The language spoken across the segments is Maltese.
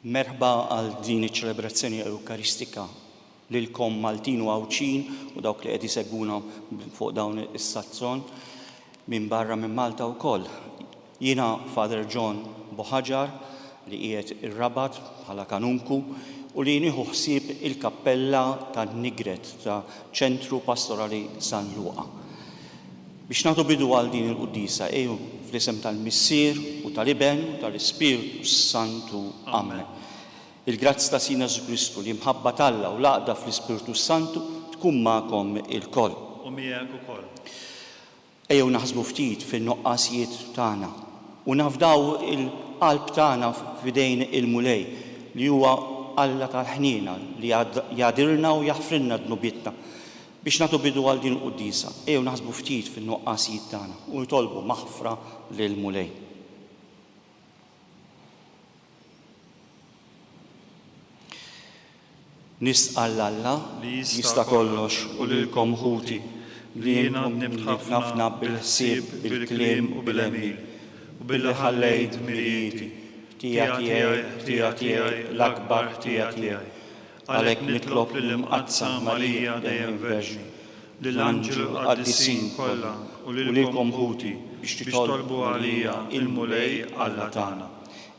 Merħba għal din iċ-ċelebrazzjoni Ewkaristika lilkom Maltin u Għawdxin u dawk li qed isegwuna fuq dawn is-sazzon minn barra minn Malta wkoll. Jiena Father John Bohaġar li qiegħed ir-Rabat bħala Kanunku u li nieħu ħsieb il-Kappella tan-Nigret ta' Ċentru Pastorali San Luqa. Biex nagħtu bidu għal din il-Quddiesa, ejjew fl-isem tal-Missier u tal-Iben u tal-Ispirtu s-Santu. Amen. Il-grazzja ta' Sidna Ġesù Kristu, l-imħabba t'Alla u l-għaqda fl-Ispirtu s-Santu tkun magħkom ilkoll. U miegħek ukoll. Ejjew naħsbu ftit fin-nuqqasijiet tagħna u nafdaw il-qalb tagħna f'idejn il-Mulej, li huwa Alla tal-ħniena, li jagħdirlna u jaħfrilna dnubietna. Biex nagħtu bidu għal din il-quddiesa, ejjew naħsbu ftit fin-nuqqasijiet tagħna u nitolbu maħfra lill-Mulej. Nistqa' 'l Alla li jista' kollox u lilkom ħuti li intom nimħab ħafna bil-ħsieb, bil-kliem u bil-għemil, u billi ħallejt dmirijieti, ħtija tiegħi, ħtija tiegħi, l-akbar ħtija tiegħi, Għalhekk nitlob lill-Imqaddsa Marija dejjem Verġni, lill-anġli u l-qaddisin kollha u lilkom ħuti biex titolbu għalija, il-Mulej Alla tagħna.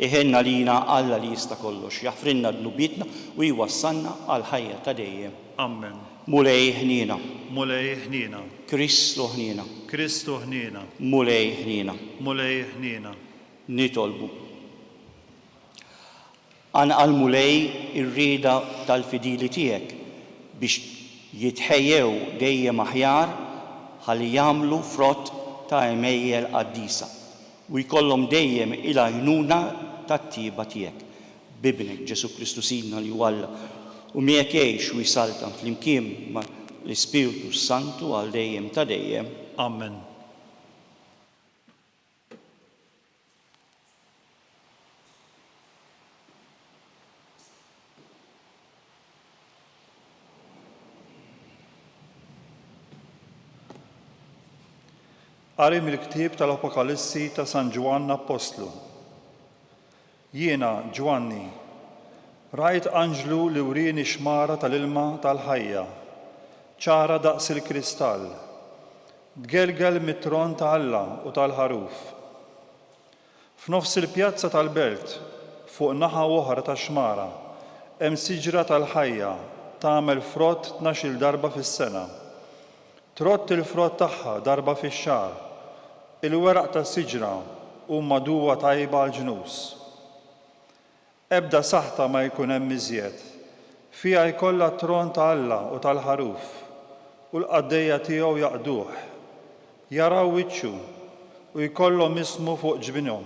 Iħenn għalina Alla li jista' kollox, jaħfrilna dnubietna u jwassalna għall-ħajja ta' dejjem. Ammen. Mulej ħniena. Mulej ħniena. Kristu ħniena. Kristu ħniena. Mulej ħniena. Mulej ħniena. Nitolbu. Ann Al Mulej ir-rieda tal-fidili tiegħek biex jitħejjew dejjem aħjar ħalli jagħmlu frott ta' għemejjel qaddisa u jkollhom dejjem il-għajnuna tat-tjieba tiegħek. B'Ibnek, Ġesù Kristu Sidna li hu Alla u miegħek jgħix u jsaltan flimkien ma' l-Ispirtu s-Santu għal dejjem ta' dejjem. Amen. Qari mill-ktieb tal-Apokalissi ta' San Ġwann Appostlu. Jiena, Ġwanni, rajt anġlu li wrieni xmara tal-ilma tal-ħajja, ċara daqs il-kristall, tgelgel mit-tron ta' Alla u tal-Ħaruf. F'nofs il-pjazza tal-belt, fuq naħa oħra tax-xmara, hemm siġra tal-ħajja tagħmel frott tnax-il darba fis-sena. Trodd il-frott tagħha darba fix-xahar. Il-weraq tas-siġra huma duwa tajba għall-ġnus. Ebda saħta ma jkun hemm iżjed. Fiha jkollha t-tron ta' Alla u tal-Ħaruf, u l-qaddejja tiegħu jaqduh. Jaraw wiċċu, u jkollhom ismu fuq ġbinhom.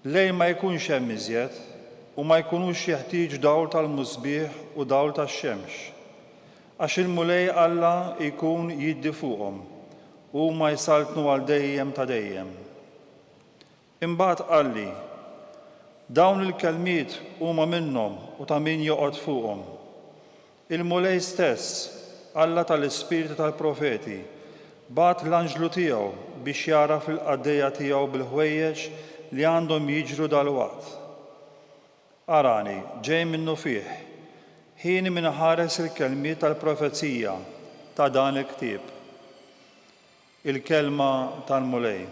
Lejl ma jkunx hemm iżjed, u ma jkunux jeħtieġ dawl tal-musbieħ u dawl tax-xemx, għax il-Mulej Alla jkun jiddi fuqhom, u huma jsaltnu għal dejjem ta' dejjem. Imbagħad qalli, Dawn il-kelmiet huma minnhom u ta' min joqgħod fuqhom. Il-Mulej stess, Alla tal-ispirti tal-profeti, bagħat l-anġlu tiegħu biex jagħraf lill-qaddejja tiegħu bil-ħwejjeġ li għandhom jiġru dalwaqt. Arani, ġej minnufih, ħin min iħares il-kelmiet tal-profezija ta' dan il-ktieb, il-kelma tal-Mulej.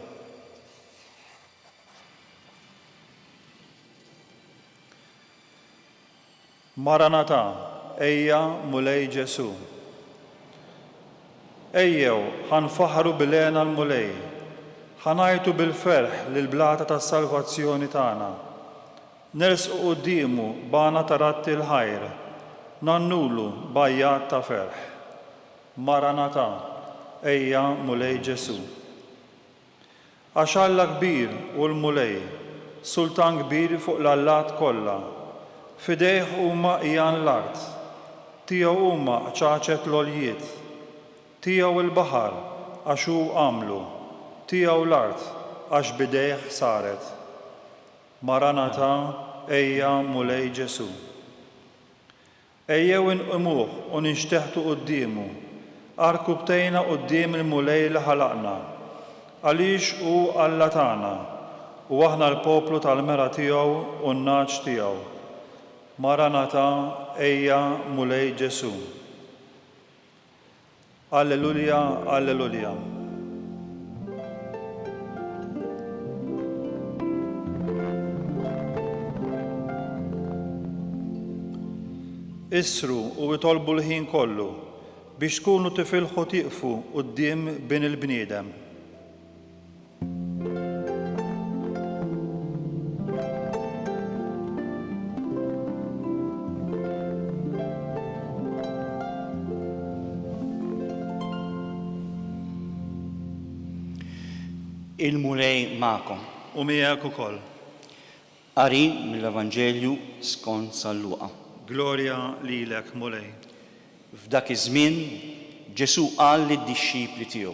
Maranatha, Ejja, Mulej Ġesù. Ejjew, ħa nfaħħru bil-hena l-Mulej, ħa ngħajtu bil-ferħ lill-blata tas-salvazzjoni tagħna. Nersqu quddiemu b'għana ta' ratti l-ħajr, ngħannulu b'għajjat ta' ferħ. Maranatha, Ejja, Mulej Ġesù. Għax Alla kbir hu l-Mulej, Sultan kbir fuq l-allat kollha. F'idejh huma għijan l-art, tiegħu huma qċaċet l-għoljiet. Tiegħu l-baħar, għax hu għamlu, tiegħu l-art, għax b'idejh saret. Maranatha, Ejja, Mulej Ġesù. Ejjew inqimuh u ninxteħtu quddiemu, għarkupptejna quddiem il-Mulej li ħalaqna, għaliex hu Alla tagħna, u aħna l-poplu tal-mera tiegħu u n-nagħaġ tiegħu. Maranatha, Ejja, Mulej Ġesù! Alleluja, Alleluja. Issru u itolbu l-ħin kollu biex tkunu tifilħu tieqfu quddiem bin il-bniedem. il-Mulej magħkom. U miegħek ukoll. Qari mill-Evanġelju skont San Luqa. Glorja lilek, Mulej. F'dak iż-żmien Ġesù qal lid-dixxipli tiegħu,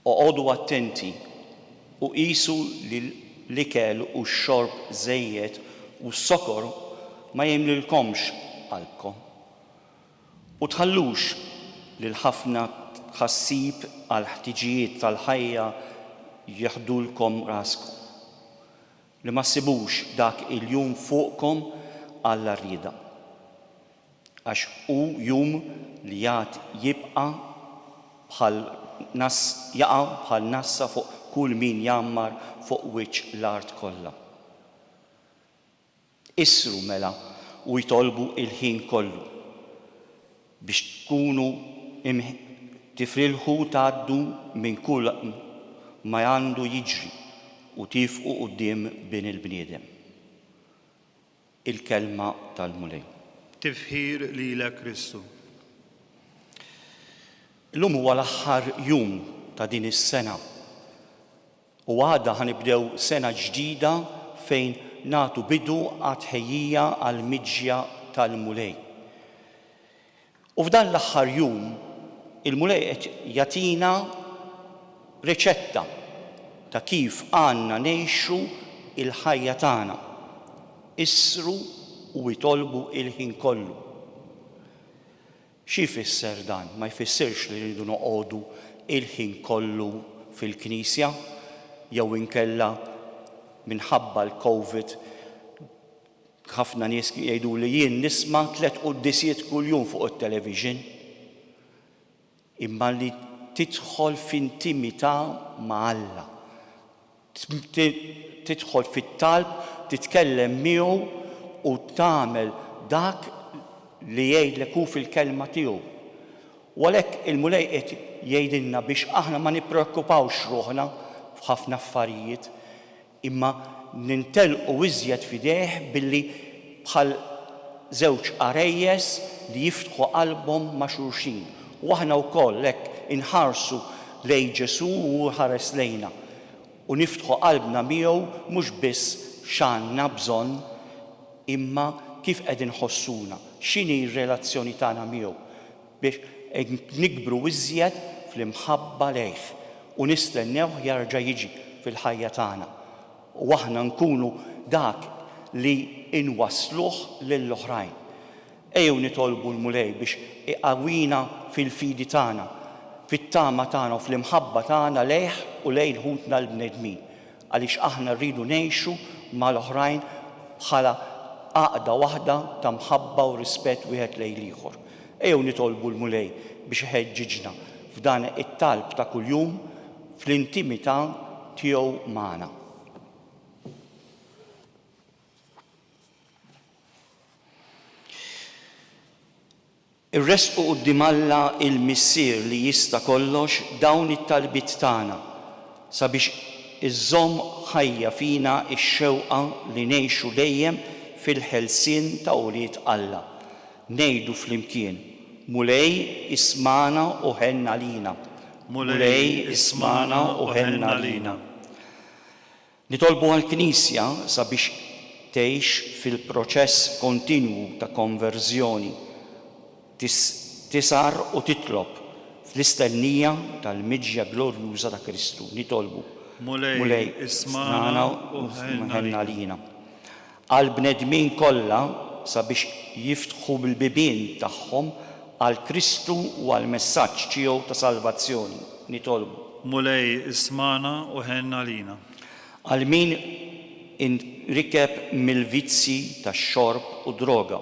Oqogħdu attenti u qisu li l-ikel u x-xorb żejjed u s-sokor ma jgħinlilkomx qalbkom. U tħallux li l-ħafna tħassib għall-ħtiġijiet tal-ħajja jeħdulkom raskom, li ma ssibux dak il-jum fuqkom għall-għarrieda. Għax hu jum li għad jibqa' bħal nass jaqa' bħal nassa fuq kull min jgħammar fuq wiċċ l-art kollha. Issru mela u itolbu il-ħin kollu biex tkunu tifrilħu tgħaddu minn kull ma għandu jiġri u tiefqu quddiem Bin il-bniedem. il-Kelma tal-Mulej. Tifħir lilek Kristu. Illum huwa l-aħħar jum ta' din is-sena u għada ħa nibdew sena ġdida fejn nagħtu bidu għat-tħejjija għall-miġja tal-Mulej. U f'dan l-aħħar jum, il-Mulej qed jagħtina riċetta ta' kif għandna ngħixu l-ħajja tagħna, Issru u itolbu l-ħin kollu. Xi jfisser dan? Ma jfissirx li rridu noqogħdu l-ħin kollu fil-knisja jew inkella minħabba l-Covid Ħafna nies jgħiduli jien nisma' tliet quddisiet kuljum fuq it-television. Imma li tidħol f'intimità ma' Alla, tidħol fit-talb, titkellem miegħu u tagħmel dak li jgħidlek hu fil-Kelma tiegħu. U għalhekk il-Mulej qiegħed jgħidilna biex aħna ma nippreokkupawx ruħna f'ħafna affarijiet. imma nintelqu iżjed f'idejh billi bħal żewġ għarejjes li jiftħu qalbhom ma' xulxin. U aħna wkoll hekk inħarsu lejn Ġesù u hu jħares lejna, u niftħu qalbna miegħu mhux biss x'għandna bżonn imma kif qed inħossuna, x'inhi r-relazzjoni tagħna miegħu. biex nikbru iżjed fl-imħabba lejh u nistennewh jarġa' jiġi fil-ħajja tagħna u aħna nkunu dak li nwassluh lill-oħrajn. Ejjew nitolbu l-Mulej biex iqawwina fil-fidi tagħna, fit-tama tagħna u fl-imħabba tagħna lejh u lejn ħutna l-bnedmin. Għaliex aħna rridu ngħixu mal-oħrajn bħala għaqda waħda ta' mħabba u rispett wieħed lejn l-ieħor. Ejjew nitolbu l-Mulej biex iħeġġiġna f'dan it-talb ta' kuljum fl-intimità tiegħu magħna. Irresqu quddiem Alla l-Missier li jista' kollox dawn it-talbiet tagħna sabiex iżżomm ħajja fina x-xewqa li ngħixu dejjem fil-ħelsien ta' ulied Alla. Ngħidu flimkien, Mulej, ismagħna u ħenn għalina. Mulej, ismagħna u ħenn għalina. Nitolbu għall-Knisja sabiex tgħix fil-proċess kontinwu ta' konverżjoni, tisgħar u titlob, fl-istennija tal-miġja glorjuża ta' Kristu. Nitolbu, Mulej, ismagħna u ħenn għalina. għall-bnedmin kollha sabiex jiftħu l-bibien tagħhom għal Kristu u għall-messaġġ tiegħu ta' salvazzjoni, nitolbu. Mulej ismagħna u ħenn għalina. Għal min inrikeb mill-vizzji tax-xorb u d-droga,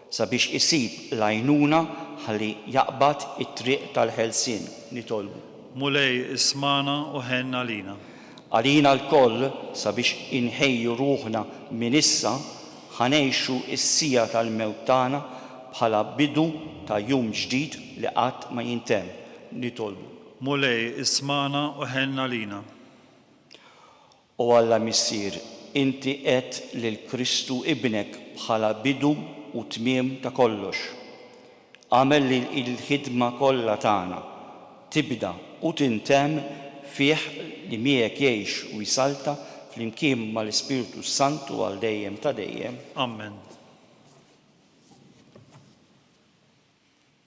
Sabiex isib l-għajnuna ħalli jaqbad it-triq tal-ħelsien, nitolbu. Mulej, ismagħna u ħenn għalina. Għalina lkoll, sabiex inħejju ruħna minn issa, ħa ngħixu s-siegħa tal-mewt tagħna bħala bidu ta' jum ġdid li qatt ma jintemm, nitolbu. Mulej, ismagħna u ħenn għalina. O Alla Missier, inti għedt lil Kristu Ibnek bħala bidu u tmiem ta' kollox. Agħmel li l-ħidma kollha tagħna tibda u tintemm fih li miegħek jgħix u jsalta flimkien mal-Ispirtu s-Santu għal dejjem ta' dejjem. Amen.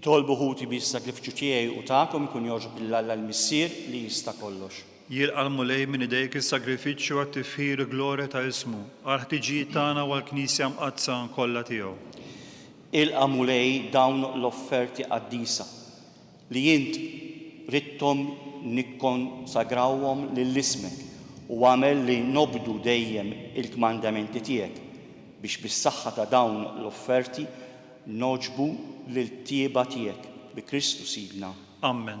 Itolbu ħuti bi s-sagrifiċċju tiegħi u tagħkom ikun jogħġob lil Alla l-Missier li jista' kollox. Jilqa' l-Mulej minn idejk is-sagrifiċċju għat-tifħir u glorja ta' ismu, għall-ħtiġijiet tagħna u għall-Knisja mqaddsa kollha tiegħu. Ilqa' Mulej dawn l-offerti qaddisa, li int ridthom nikkonsagrawhom lil ismek, u agħmel li nobdu dejjem il-kmandamenti tiegħek, biex bis-saħħa ta' dawn l-offerti nogħġbu l-irtieba tiegħek, bi Kristu Sidna. Ammen.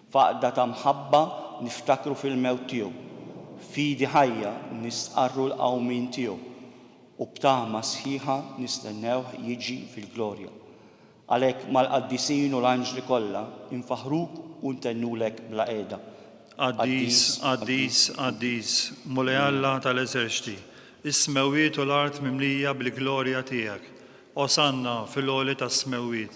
F'għaqda ta' mħabba niftakru fil-mewt tiegħu, f'fidi ħajja nistqarru l-qawmien tiegħu, u b'tama sħiħa nistennewh jiġi fil-glorja. Għalhekk mal-qaddisin u l-anġli kollha infaħħruk u ntennulek bla qiegħda, Qaddis, Qaddis, Qaddis, Mulej Alla tal-eżerċti, is-smewwiet u l-art mimlija bil-glorja tiegħek, Osanna fil-għoli tas-smewwiet,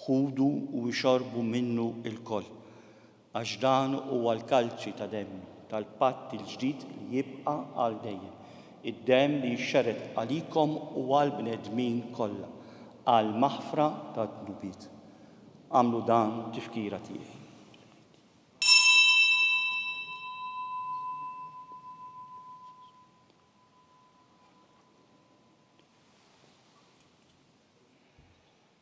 Ħudu u ixorbu minnu lkoll, għax dan huwa l-kalċi ta' demmi, tal-patt il-ġdid li jibqa' għal dejjem, id-demm li jixxerred għalikom u għall-bnedmin kollha, għall-maħfra tad-dnubiet. Agħmlu dan tifkira tiegħi.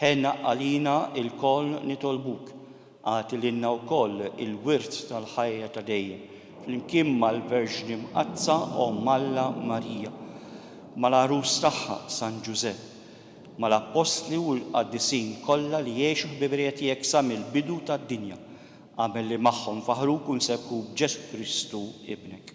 Ħen għalina lkoll nitolbuk, agħti lilna wkoll il-wirt tal-ħajja ta' dejjem, flimkien mal-Verġni Mqaddsa Omm Alla Marija, mal-Għarus tagħha San Ġużepp, mal-Appostli u l-Qaddisin kollha li għexu ħbiberija tiegħek sa mill-bidu tad-dinja. Agħmel li magħhom faħruk u nserħuk b'Ġesù Kristu Ibnek.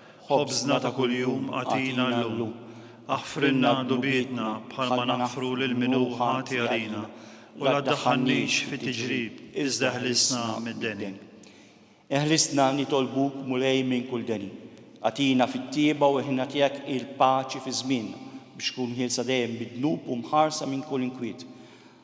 Ħobżna ta' kuljum agħtina llum. Aħfrilna dnubietna bħalma naħfru lil min hu ħati għalina, u la ddaħħalnix fi tiġrib, iżda eħlisna mid-deni. Eħlisna nitolbuk, Mulej, minn kull deni. Agħtina fit-tjieba u eħna tiegħek il-paċi fi żmienna, biex tkun ħielsa dejjem mid-dnub u mħarsa minn kull inkwiet.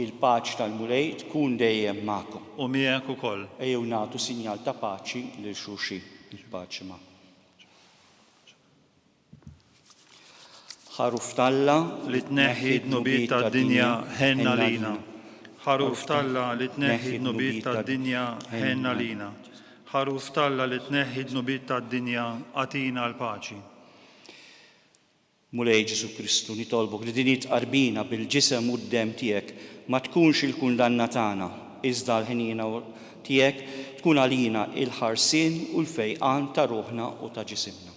Il-paċ tal-Mulej tkun dejjem magħkom. U miegħek ukoll. Ejjew nagħtu sinjal ta' paċi lil xulxin. Il-paċi magħkom. Ħaruf t'Alla li tneħħi d-dnubiet tad-dinja, ħenn għalina. Ħaruf t'Alla li tneħħi d-dnubiet tad-dinja, ħenn għalina. Ħaruf t'Alla li tneħħi d-dnubiet tad-dinja, agħtina l-paċi. Mulej Ġesù Kristu, nitolbok li din it-tqarbina bil-Ġisem u d-Demm tiegħek ma tkunx il-kundanna tagħna, iżda l-ħniena tiegħek tkun għalina il-ħarsien u l-fejqan ta' ruħna u ta' ġisimna.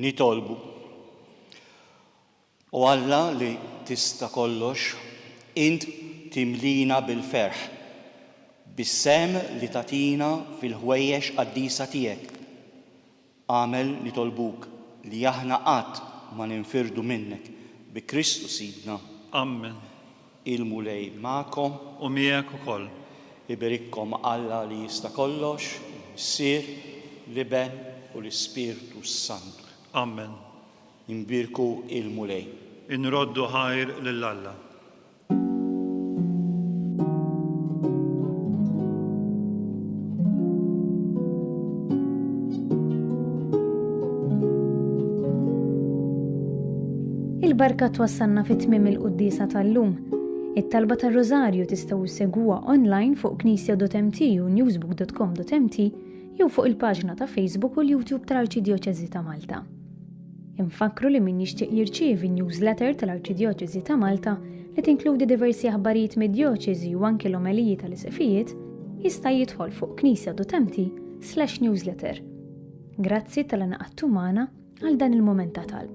Nitolbu. U Alla li tista' kollox, int timlina bil-ferħ bis-sehem li tagħtina fil-ħwejjeġ qaddisa tiegħek. Agħmel nitolbuk li aħna qatt ma ninfirdu minnek, bi Kristu Sidna. Ammen. Il-Mulej magħkom. U miegħek ukoll. Iberikkom Alla li jista' kollox, il-Missier, l-Iben u l-Ispirtu s-Santu. Ammen. Inbierku il-Mulej. Inroddu ħajr lil Alla. il-barka twassalna fit tmim il-quddisa tal-lum. It-talba tar-Rożarju tistgħu segwa online fuq knisja.mt u newsbook.com.mt jew fuq il-paġna ta' Facebook u l-YouTube tal-Arċidjoċeżi ta' Malta. Infakkru li min jixtieq jirċievi n-newsletter tal-Arċidjoċesi ta' Malta li tinkludi diversi aħbarijiet mid-djoċesi u anki l-omeliji tal-Isqfijiet, jista' jidħol fuq knisja.mt/newsletter. Grazzi tal-ingħaqadtu magħna għal dan il-mument ta' talb.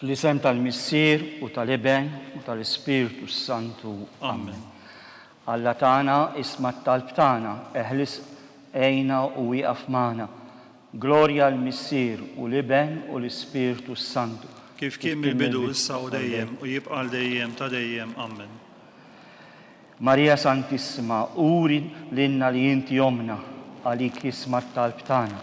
Fl-isem tal-Missier u tal-Iben u tal-Ispirtu s-Santu. Amen. Alla tagħna, isma' t-talb tagħna, eħlis, għinna u wieqaf magħna. Glorja għall-Missier u l-Iben u l-Ispirtu s-Santu. Kif kien mill-bidu, issa u dejjem, u jibqa' għal dejjem ta' dejjem. Amen. Marija Santissima, uri lilna li inti ommna, għalik isma' t-talb tagħna.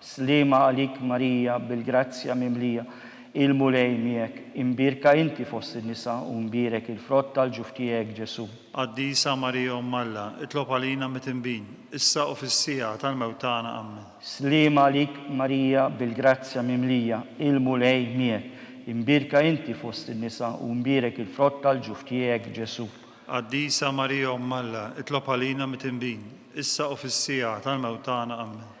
Sliema għalik Marija bil-grazzja mimlija, il-Mulej miegħek, imbierka inti fost in-nisa u mbierek il-frott tal-ġuf tiegħek Ġesù. Qaddisa Marija Omm Alla, itlob għalina mitinbin, issa u fis-siegħa tal-mewt tagħna. Ammen. Sliema għalik Marija bil-grazzja mimlija, il-Mulej miegħek, imbierka inti fost in-nisa u mbierek il-frott tal-ġuf tiegħek Ġesù. Qaddisa Marija Omm Alla, itlob għalina mitinbin, issa u fis-siegħa tal-mewt tagħna. Ammen.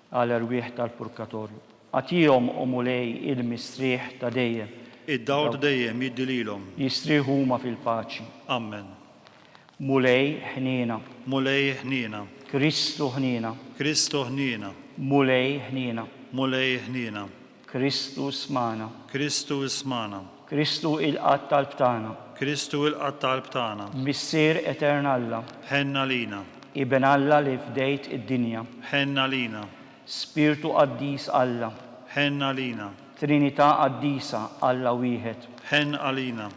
Għal erwieħ tal-purgatorju. Agħtihom, O Mulej, il-mistrieħ ta' dejjem. Id-dawl ta' dejjem jiddi lilhom. Jistrieħu huma fil-paċi. Ammen. Mulej, ħniena. Mulej, ħniena. Kristu, ħniena. Kristu, ħniena. Mulej, ħniena. Mulej, ħniena. Kristu ismagħna. Kristu ismagħna. Kristu ilqa' t-talb tagħna. Kristu ilqa' t-talb tagħna. Missier Etern Alla. Ħenn għalina. Iben Alla li fdejt id-dinja. Ħenn għalina. Spirtu Qaddis Alla. Ħenn għalina. Trinità Qaddisa, Alla Wieħed. Ħenn għalina.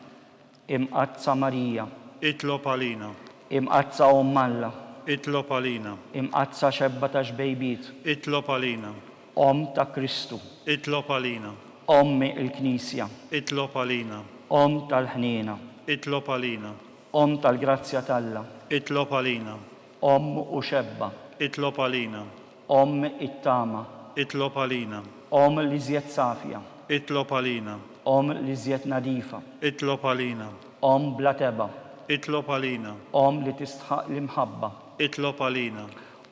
Imqaddsa Marija. Itlob għalina. Imqaddsa Omm Alla. Itlob għalina. Imqaddsa Xebba ta' Xbejbiet. Itlob għalina. Omm ta' Kristu. Itlob għalina. Ommi l-Knisja. Itlob għalina. Omm tal-ħniena. Itlob għalina. Omm tal-grazzja t'Alla. Itlob għalina. Omm u Xebba. Itlob għalina. Omm it-tama. Itlob għalina. Omm l-iżjed safja. Itlob għalina. Omm l-iżjed nadifa. Itlob għalina. Omm bla tebgħa. Itlob għalina. Omm li tistħaq l-imħabba. Itlob għalina.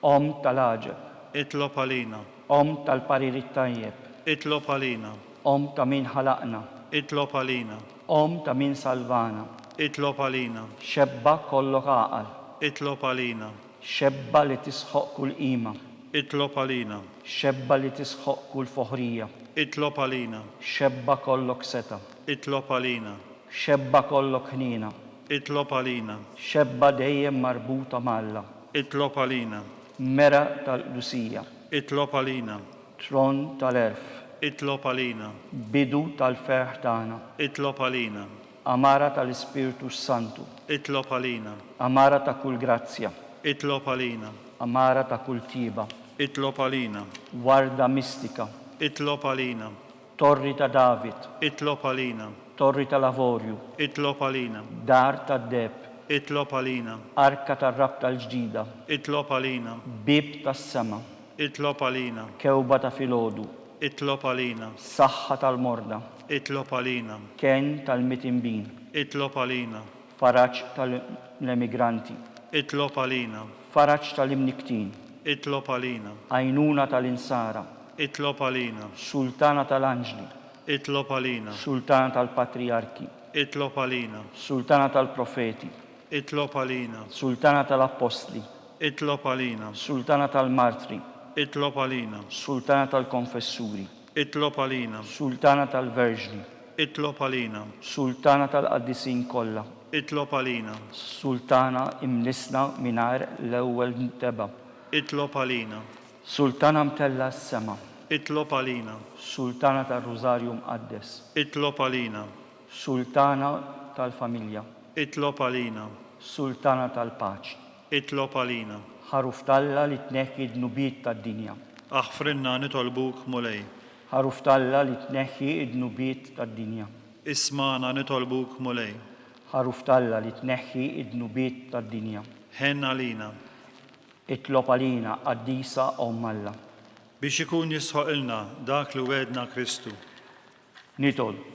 Omm tal-għaġeb. Itlob għalina. Omm tal-parir it-tajjeb. Itlob għalina. Omm ta' min ħalaqna. Itlob għalina. Omm ta' min salvana. Itlob għalina. Xebba kollok għaqal. Itlob għalina. Xebba li tisħoq kull qima. Itlob għalina. Xebba li tisħoq kull foħrija. Itlob għalina. Xebba kollok setgħa. Itlob għalina. Xebba kollok ħniena. Itlob għalina. Xebba dejjem marbuta ma' Alla. Itlob għalina. Mera tal-qdusija. Itlob għalina. Tron tal-għerf. Itlob għalina. Bidu tal-ferħ tagħna. Itlob għalina. Għamara tal-Ispirtu s-Santu. Itlob għalina. Għamara ta' kull grazzja. Itlob għalina. Għamara ta' kull tjieba. Itlob għalina. Warda mistika. Itlob għalina. Torri ta' David. Itlob għalina. Torri tal-Avorju. Itlob għalina. Dar tad-deheb. Itlob għalina. Arka tar-rabta l-ġdida. Itlob għalina. Bieb tas-sema. Itlob għalina. Kewba ta' filgħodu. Itlob għalina. Saħħa tal-morda. Itlob għalina. Kenn tal-mitinbin. Itlob għalina. Faraġ tal-emigranti. Itlob għalina. Faraġ tal-imnikktin. Itlob għalina. Għajnuna tal-insara. Itlob għalina. Sultana tal-anġli. Itlob għalina. Sultana tal-patrijarki. Itlob għalina. Sultana tal-profeti. Itlob għalina. Sultana tal-appostli. Itlob għalina. Sultana tal-martri. Itlob għalina. Sultana tal-konfessuri. Itlob għalina. Sultana tal-Verġni. Itlob għalina. Sultana tal-Qaddisin kollha. Itlob għalina. Sultana imnissna mingħajr l-ewwel mtebgħa. Itlob għalina. Sultana mtellgħa s-sema. Itlob għalina. Sultana tar-Rużarju Mqaddes. Itlob għalina. Sultana tal-familja. Itlob għalina. Sultana tal-paċi. Itlob għalina. Ħaruf t'Alla li tneħħi d-dnubiet tad-dinja. Aħfrilna nitolbuk, Mulej. Ħaruf t'Alla li tneħħi d-dnubiet tad-dinja. Ismagħna nitolbuk, Mulej. Ħaruf t'Alla li tneħħi d-dnubiet tad-dinja. Ħenn għalina. Itlob għalina, Qaddisa Omm Alla. Biex ikun jistħoqqilna dak li wegħedna Kristu. Nitolbu.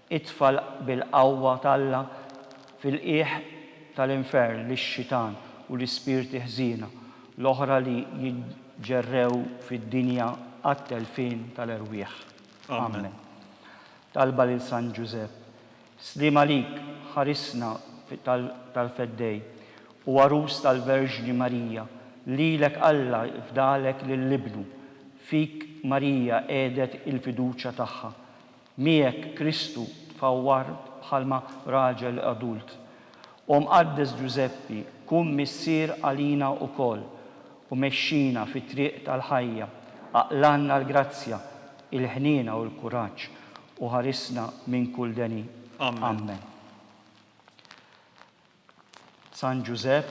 Itfa' bil-qawwa t'Alla fil-qiegħ tal-infern lix-xitan u l-ispirti ħżiena l-oħra li jitġerrew fid-dinja għat-telfien tal-erwieħ. Amen. Talba lil San Ġużepp. Sliem għalik, ħarisna tal-Feddej u għarus tal-Verġni Marija, lilek Alla fdalek lil Ibnu, fik Marija qiegħdet il-fiduċja tagħha. Miegħek Kristu tfawwar bħalma raġel adult. O Mqaddes Ġużeppi, kun missier għalina ukoll u mexxina fit-triq tal-ħajja, aqlanna l-grazzja, il-ħniena u l-kuraġġ, u ħarisna minn kull deni. Ammen. San Ġużepp,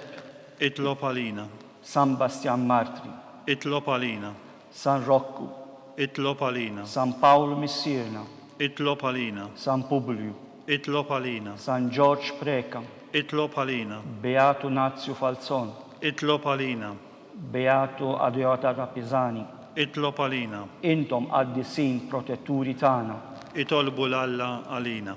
itlob għalina. San Bastjan Martri, itlob għalina. San Rokku, itlob għalina. San Pawl Missierna, itlob għalina. San Publju, itlob għalina. San Ġorġ Preca, itlob għalina. Beatu Nazju Falzon, itlob għalina. Beatu Adeota ta' Pisani, itlob għalina. Intom qaddisin protetturi tagħna. Itolbu 'l Alla għalina.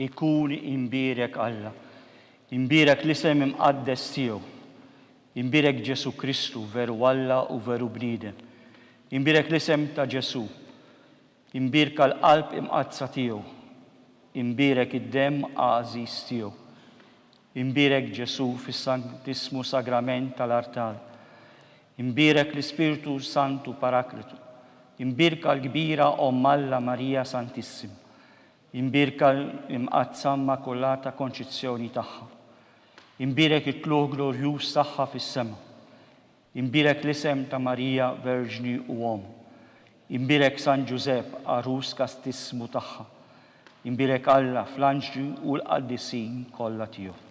ikun imbierek Alla, imbierek l-isem imqaddes tiegħu, imbierek Ġesu Kristu veru Alla u veru bniedem, imbierek l-isem ta' Ġesu. Imbierka l-qalb imqaddsa tiegħu. Imbierek id-demm għażiż tiegħu. Imbierek Ġesù fis-Santissmu Sagrament tal-artal. Imbierek l-Ispirtu Santu Paraklitu. Imbierka l-kbira Omm Alla Marija Santissima. Imbierka l-Imqaddsa Immakulata Konċizzjoni tagħha. Imbierek it-tlugħ glorjuż tagħha fis-sema. Inbierek l-isem ta' Marija Verġni u Omm. Inbierek San Ġużepp, Għarus Kastissmu tagħha. Inbierek Alla fl-anġli u l-qaddisin kollha tiegħu.